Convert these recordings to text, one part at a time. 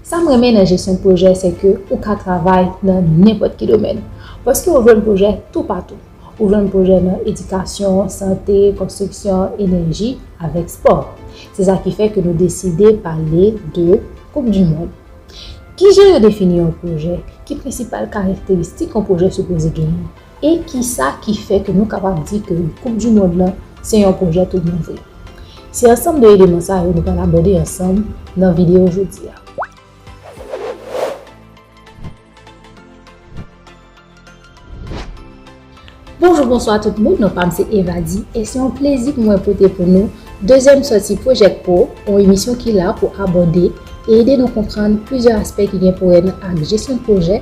Sa m renmen nan jesyon pwojè se ke ou ka travay nan nenpòt ki domèn. Paske ou jwenn pwojè toupatou. Ou jwenn pwojè nan edikasyon, sante, konstriksyon, enèji, avèk spò. Se sa ki fè ke nou deside pale de koup di mond. Kijan yo defini yon pwojè? Ki prensipal karakteristik yon pwojè sipoze genyen? E kisa ki fè ke nou kapab di ke koup du mond lan se yon pwojè tout bon vre? Se ansanm de eleman sa yo nou pral abòde ansanm nan video jodi a. Bonjou bonswa tout moun, non pam se Evadi e se yon plezi pou mwen pote pou nou dezyèm sòti Project Pro, yon emisyon ki la pou abòde e ede nou konprann plizyè aspè ki gen pou wè nan ak jesyon pwojè,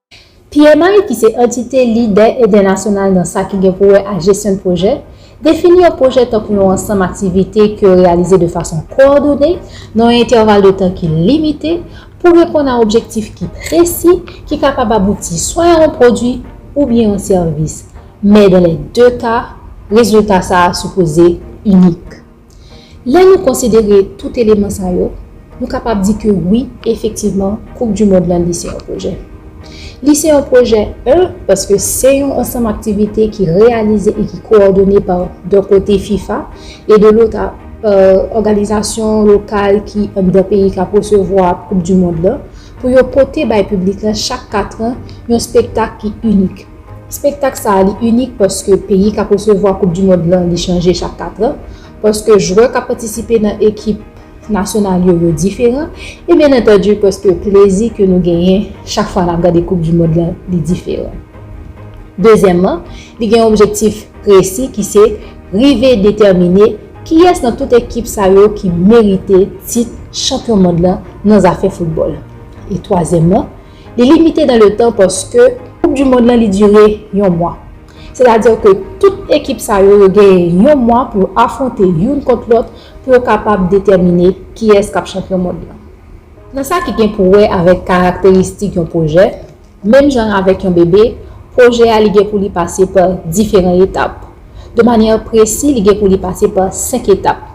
PMI ki se antite lidè entènasyonal nan sa ki gen pou wè a jesyon pwojè, defini yon pwojè tankou yon ansanm aktivite ke yo reyalize de fason kowòdone nan yon entèval de tan ki limite pou reponn a objektif ki presi ki kapab abouti swa a yon pwodwi oubyen yon sèvis, men dan lè de ka, rezilta sa a sipoze inik. Lè nou konsidere tout eleman sa yo, nou kapab di ke wi, efektivman, koup du mond lan li se yon pwojè. Li se yon pwojè, 1, paske se yon ansanm aktivite ki reyalize e ki kowòdone pa, dè kote, fifa, e de lotr, pa òganizasyon lokal ki anndan peyi kap resevwa koup du mond lan, pou yo pote bay piblik lan chak katran yon spektak ki inik. Spektak sa a li inik paske peyi k ap resevwa koup di mond lan li chanje chak katran, paske jwè k ap patisipe nan ekip nasyonal yo yo diferan e byen antandi paske plezi ke nou genyen chak fwa n ap gade koup di mond lan li diferan. Dezyèmman, li gen yon objektif presi ki se rive detèmine kiyès nan tout ekip sa yo ki merite tit chanpyon mond lan nan zafè foutbòl. E twazyèmman, Li limite dan le tan paske koup du mond lan li dure yon mwa. Se ta di ke tout ekip sa yo yo genyen yon mwa pou yo afwonte youn kont lòt pou yo kapab detèmine kiyès kap chanpyon mond lan. Nan sa ki gen pou wè avèk karakteristik yon pwojè, menm jan avèk yon bebe, pwojè a li gen pou li pase pa diferan etap. De manyè presi li gen pou li pase pa 5 etap,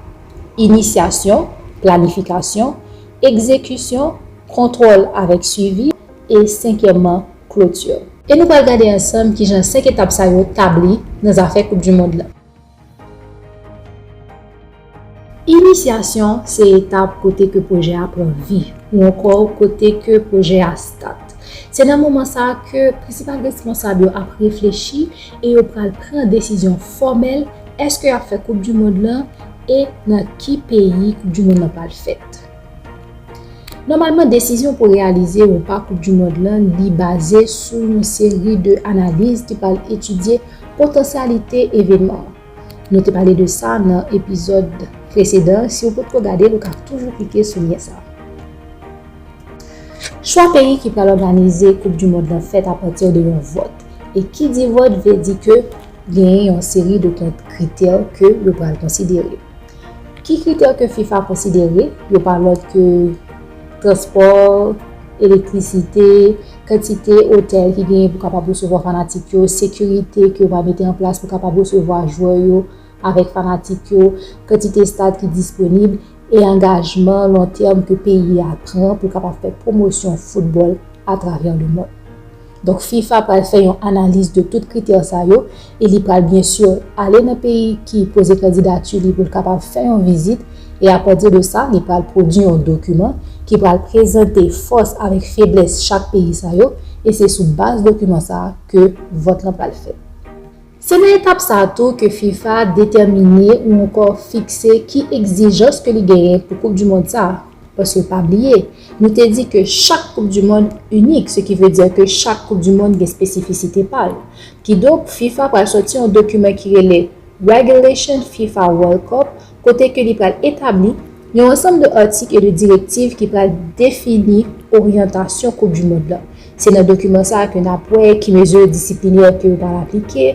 Inisyasyon, planifikasyon, egzekisyon, Kontwòl avèk swivi e senkyèmman kloti. E nou pral gade ansanm kijan 5 etap sa yo tabli nan zafè koup du mond lan. Inisyasyon se etap kote ke pwojè a pran vi ou ankò kote ke pwojè a stat. Se nan moman sa ke prensipal responsab yo ap reflechi e yo pral pran desizyon fòmèl èske yap fè koup du mond lan e nan ki peyi koup du mond lan pral fèt. Nòmalman desizyon pou reyalize ou pa koup du mond lan li baze sou yon seri de analiz ki pral etidye potansyalite evenman an. Nou te pale de sa nan epizòd presedan si ou potko gade l ou ka toujou klike sou lyen sa. Chwa peyi ki pral òganize koup du mond lan fèt apati de yon vòt e ki di vòt vle di ke genyen yon seri de kritè ke yo pral konsidere. Ki kritè ke fifa konsidere? Yo pa lòt ke transpò, elektrisite, kantite otèl ki genyen pou kapab resevwa fanatik yo, sekirite ke yo va mete an plas pou kapab resevwa jwè yo avèk fanatik yo, kantite estad ki disponib, e angajman lon tèm ke peyi a pran pou kapab fè pwomosyon foutbòl atravè lemond. Donk fifa pral fè yon analiz de tout kritè sa yo e li pral byen sur ale nan peyi ki poze kandidati li pou l kapab fè yon vizit e apati de sa li pral pwodui yon dokiman ki pral prezante fòs avèk feblès chak peyi sa yo e se sou baz dokiman sa ke vòt lan pral fèt. Se nan etap sa tou ke fifa detèmine ou ankò fikse ki egzijans ke li genyen pou koup du mond sa. Paske pa bliye, nou te di ke chak koup du mond inik, se ki vle di ke chak koup du mond gen spesifisite pa l. Kidonk fifa pral sòti yon dokiman ki rele Regulation fifa World Cup kote ke li pral etabli yon ansanm de atik e de direktiv ki pral defini oryantasyon koup du mond la. Se nan dokiman sa a ke nap wè ki mezi disiplinè ke yo pral aplike,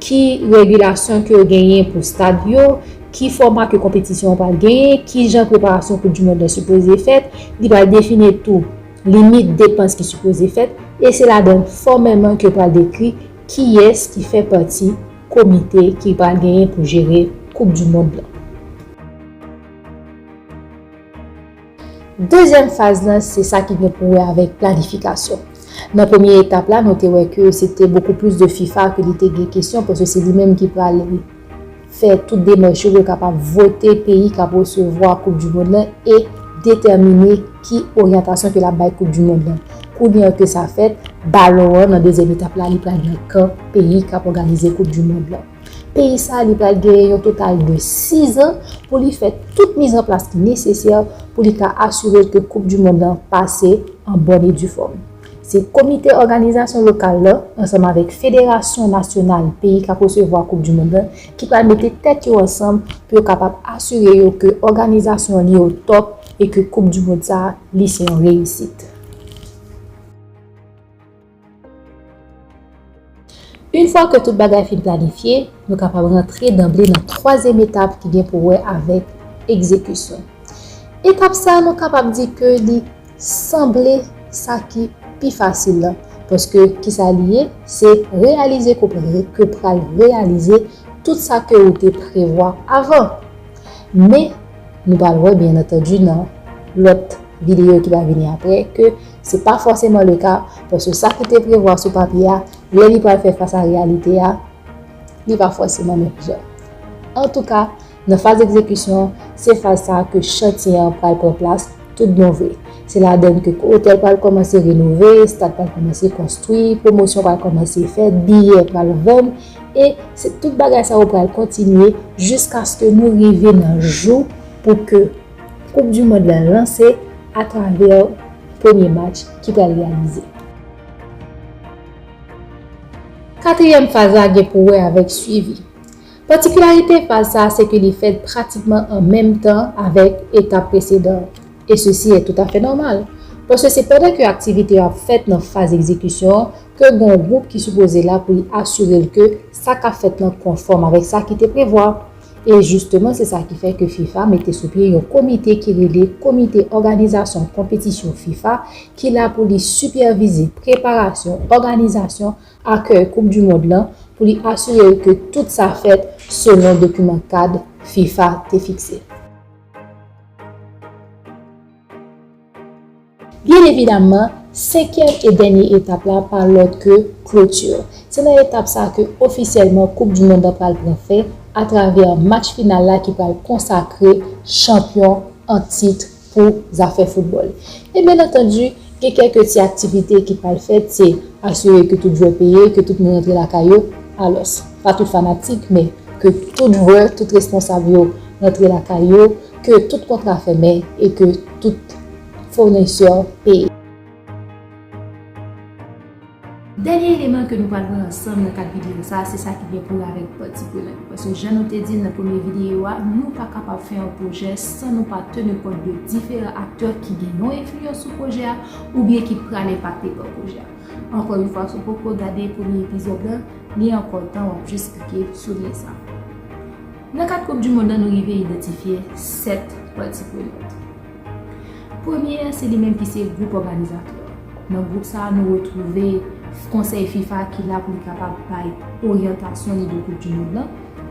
ki regilasyon ke yo genyen pou stad yo, ki fòma ke konpetisyon an pral genyen, ki jan preparasyon koup du mond la sipoze fèt, li pral defini tou limit depans ki sipoze fèt, e se ladann fòmèlman ke yo pral dekri kiyès ki fè pati. komite ki pral genyen pou jere koup du mond lan. Dezyèm faz lan se sa ki gen pou wè avèk planifikasyon. Nan premye etap la nou te wè ke se te bokou plis de fifa ke li te gen kesyon paske se li menm ki pral fè tout demèch yo pou l kapab vote peyi kap resevwa koup du mond lan e detèmine ki oryantasyon ke lap bay koup du mond lan. Kounye an ke sa fèt, balon an nan dezyèm etap la li pral nan kan. peyi kap òganize koup du mond lan. Peyi sa a li pral genyen yon total de 6 an pou li fè tout mizanplas ki nesesè pou li ka asire ke koup du mond lan pase an bòn e difòm. Se komite òganizasyon lokal lan ansanm avèk federasyon nasyonal peyi kap resevwa koup du mond lan ki pral mete tèt yo ansanm pou yo kapab asire yo ke òganizasyon an li o tòp e ke koup du mond sa a li se yon reyisit. Une fwa ke tout bagay fin planifye, nou kapab rantre danble nan twazyèm etap ki gen pou wè avèk egzekisyon. Etap sa nou kapab di ke li sanble sa ki pi fasil la, paske kisa li ye, se reyalize ke w pral reyalize tout sa ke ou te prevwa avan. Men, nou pral wè byen antandi nan lòt videyo ki va vini apre ke. Se pa fòseman le ka, paske sa ki te prevwa sou papye a, lè li pral fè fas a reyalite a, li pa fòseman menm jan. Antouka, nan faz egzekisyon, se faz sa a ke chantye an pral pran plas tout bon vre. Se ladann ke otèl pral kòmanse renove, stad pral kòmanse konstwi, pwomosyon pral kòmanse fèt, biyè pral vann, e se tout bagay sa yo pral kontinye jiskaske nou rive nan jou pou ke. Koup du mond la lanse atravè premye match ki pral reyalize. Katriyèm faz la gen pou wè avèk swivi. Patikilarite faz sa se ke li fèt pratikman an menm tan avèk etap presedan an. E sesi è toutafè nòmal, paske se pandan ke aktivite yo ap fèt nan faz egzekisyon an ke gen yon gwoup ki sipoze la pou li asire l ke sa k ap fèt lan konfòm avèk sa ki te prevwa. E jisteman se sa ki fè ke fifa mete sou pye yon komite ki rele Komite Òganizasyon Konpetisyon fifa ki la pou li sipèvize preparasyon, òganizasyon, akèy koup du mond lan pou li asire l ke tout sa fèt selon dokiman kad fifa te fikse. Byen evidaman, senkyèm e dènye etap la pa lòt ke clôture. Se nan etap sa ke ofisyèlman koup du mond lan pral pran fen atravè match final la ki pral konsakre chanpyon an tit pou zafè foutbòl. E byen antandi, gen kèlke ti aktivite ki pral fèt, se asire ke tout jwè peye, ke tout moun rantre lakay yo, alòs, pa tout fanatik, men ke tout jwè, tout responsab yo rantre lakay yo, ke tout kontra fèmen e ke tout. founisè peye. Dènye eleman ke nou pral wè ansanm nan kad videyo sa a se sa ki gen pou wè avèk pati prenant yo. Paske jan nou te di l nan premye videyo a, nou pa kapab fè yon pwojè san nou pa teni kont de diferan aktè ki gen yon enfliyans sou pwojè a oubyen ki pral enpakte pa pwojè a. Ankò yon fwa, si w poko gade premye epizòd lan, li ankò tan w ap jis klike sou lyen sa a. Nan kad koup du mond lan nou rive idantifye 7 pati prenant. Premye a se li menm ki se gwoup òganizatè. Nan gwoup sa a nou retwouve konsèy fifa ki la pou li kapab bay oryantasyon li de koup di mond lan.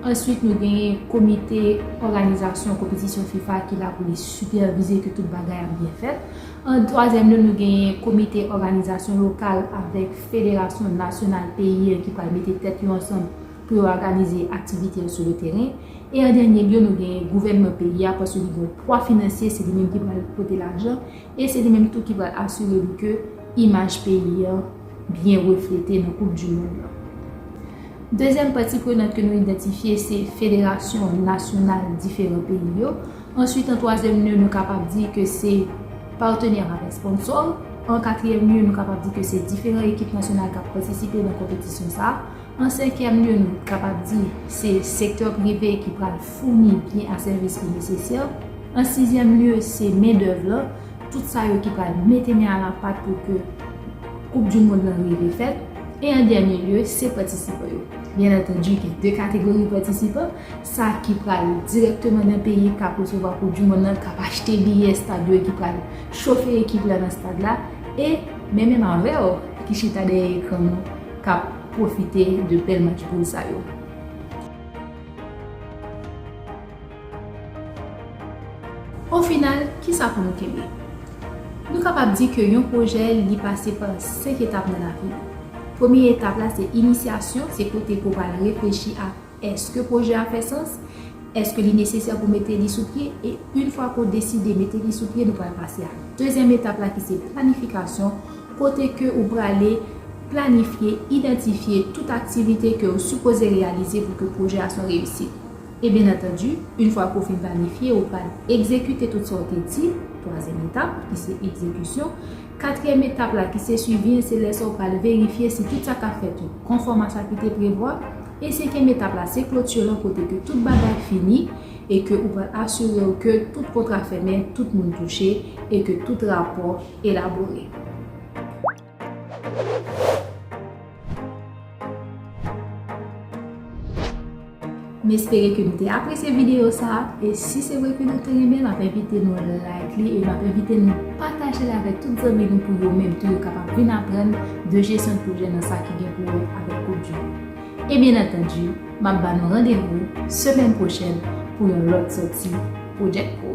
Answit nou genyen komite òganizasyon konpetisyon fifa ki la pou li sipèvize ke tout bagay ap byen fèt. An twazyèm lye nou genyen komite òganizasyon lokal avèk federasyon nasyonal peyi an ki pral mete tèt yo ansanm pou yo aganize aktivite yo sou le teren, e an dènye lye nou gen gouvènman peyi a paske li gen yon pwa finansye se li menm ki pral pote lajan e se li menm tou ki pral asire li ke imaj peyi an byen reflete nan koup du mond lan. Dezyèm pati prenant ke nou idantifye se federasyon nasyonal diferan peyi yo, answit an twazyèm lye nou kapab di ke se patenè avèk sponsò, an katriyèm lye nou kapab di ke se diferan ekip nasyonal kap patisipe nan konpetisyon sa, An senkyèm lye nou kapab di se sektè prive ki pral founi byen ak sèvis ki nesesè. An sizyèm lye se mendèv la, tout sa yo ki pral mete men a la pat pou ke koup di mond lan rive fèt. E an dènye lye se patisipan yo. Byen antandi gen 2 kategori patisipan, sa ki pral dirèkteman nan peyi k ap resevwa koup di mond lan, k ap achte biyè estad yo e ki pral chofe ekip la nan estad la e men menm avè w ki chita dèyè ekran nou, k ap pwofite de bèl match poul sa yo. O final, kisa pou nou kenbe? Nou kapab di ke yon pwojè li pase pa 5 etap nan lavi li. Premye etap la se inisyasyon, se kote ke w pral reflechi ak. Eske pwojè a fè sans? Eske li nesesè pou mete li sou pye? E yn fwa ke w deside mete li sou pye nou pral pase a dezyèm etap la ki se planifikasyon kote ke ou prale planifye, idantifye tout aktivite ke w sipoze reyalize pou ke pwojè a son reyisit. E byen antandu yn fwa ke w fin planifye ou pral egzekite tout sa w te di twazyèm etap ki se egzekisyon katriyèm etap la ki se swivi an se lè sa w pral verifye si tout sa kap fèt yo konfòm a sa ki te prevwa. E senkyèm etap la se clôture lan kote ke tout bagay fini e ke ou pral asire w ke tout kontra fèmen, tout moun touche e ke tout rapò elabore. M espere ke nou te apresye videyo sa a e si se vre ke nou te renmen l map envite nou like li e map envite nou pataje l avèk tout zanmi nou pou yo menm tou yo kapab vin aprann de jesyon de pwojè nan sa ki gen pou wè avèk koup du mond. E byen antandu, m ap ba nou randevou semèn pwochèn pou yon lòt sòti Project Pro.